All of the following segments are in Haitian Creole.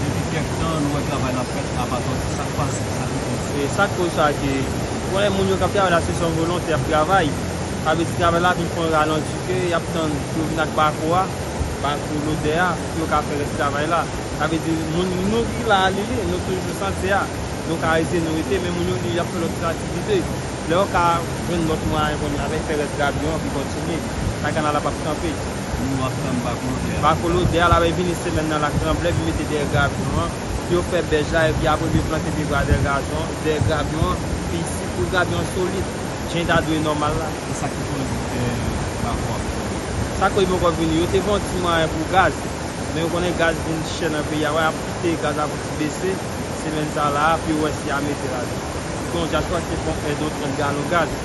Depi kèk tan nou wè travay la fèt a pa tòde. Sa k pase? Sa ki koz sa? Sa k koz sa ke ou konnen moun yo k ap travay la se san volonte y ap travay. Sa vle di travay la vin pran ralanti ke y ap tann pou yo vin ak bako a, bako lodè a pou yo ka fè rès travay la. Sa vle di moun nou ki la a li nou toujou santi a. Nou ka rete nou rete men moun yo li y ap fè lòt aktivite. Lè yo ka jwenn lòt mwayen kounye a avèk fè rès gabyon an ki kontinye, sa kanal la p ap kanpe. Moun yo ap tann bako lodè a. Bako lodè a, l ape vini semèn nan lak tranble vin mete dèyè grabyon an, pou yo fè bèj la, epi apre pou yo plante pye gwa dèyè gazon, dèyè grabyon an, pi isit, pou grabyon an solid, jan li ta dwe nòmal la. E sa ki koz ou fè bako a poko vini? Sa koz li poko vini? Yo te fè yon ti mwayen pou gaz, men ou konnen gaz vin chè nan peyi a, wè, y ap kite gaz la pou ti bese, semèn sa la a, pou yo wè si y a mete ladan. Ou konnen yon dyaspowa ki te pran yon èd yon 30 galon gaz.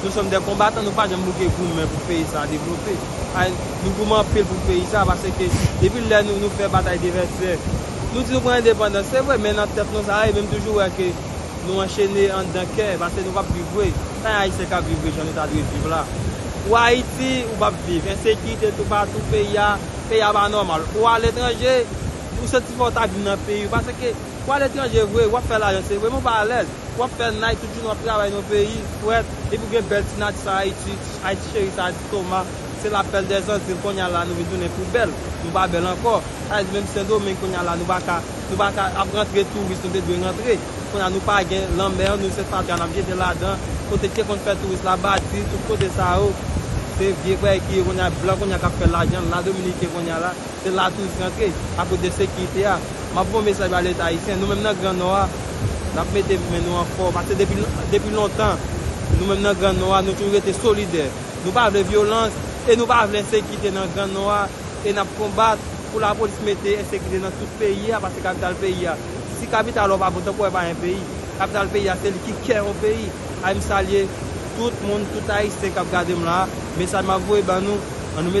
Nou som de konbatan nou pa janm bouke goumen pou peyi sa devlope anh nou goumen anpil pou peyi sa pase ke depi lè nou nou fè batay de vètyè nou di nou pran endepandans se vre men nan tèt nou sa ye men m toujou wè ke nou anchene andan kè pase nou pap viv vre sa yon ayisyen kap viv vre jan nou ta dwe viv la ou ayiti ou pap viv ensekirite tou patou peyi a peyi a pa nòmal ou a letranje ou santi fòw ta vin nan peyi w pase ke. Ou al etranje vre, wap fè lajan se vre men ou pa alèz. Wap fè night tout jounen wap travay nan yon peyi frèt epi ou gen bèl ti nati sa Ayiti, Ayiti cheri sa di Toma se la pèl dè Zandil kounye a la nou vin tounen poubèl, nou pa bèl ankò. Sa vle di menm Sendomeng kounye a la nou pa ka, nou pa ka ap rantre touris nou te dwe rantre. Kounye a nou pa gen lanmè an nou se fatra nap jete ladan, kote ki te konn fè touris la bati, tout kote sa yo se vye bagay ki ye kounye a, blan kounye a kap fè lajan la Dominiken kounye a la. Se la tou li rantre, akoz de sekirite a. M ap voye mesaj ba Leta ayisyen, nou menm nan Gran Nò a, n ap mete men nou an fò. Pase depi lontan, nou menm nan Gran Nò a, nou toujou rete solidè. Nou pa vle vyolans e nou pa vle ensekite nan Gran Nò a. E n ap konbat pou lapolis mete ensekite nan tout peyi a, pase kapital peyi a. Si kapital ou pa bon, tanpou wè pa yon peyi. Kapital peyi a, se li ki kè yon peyi. Ay m salye tout moun, tout ayisyen k ap gade m la a. Mesaj m ap voye ba nou, an nou mete.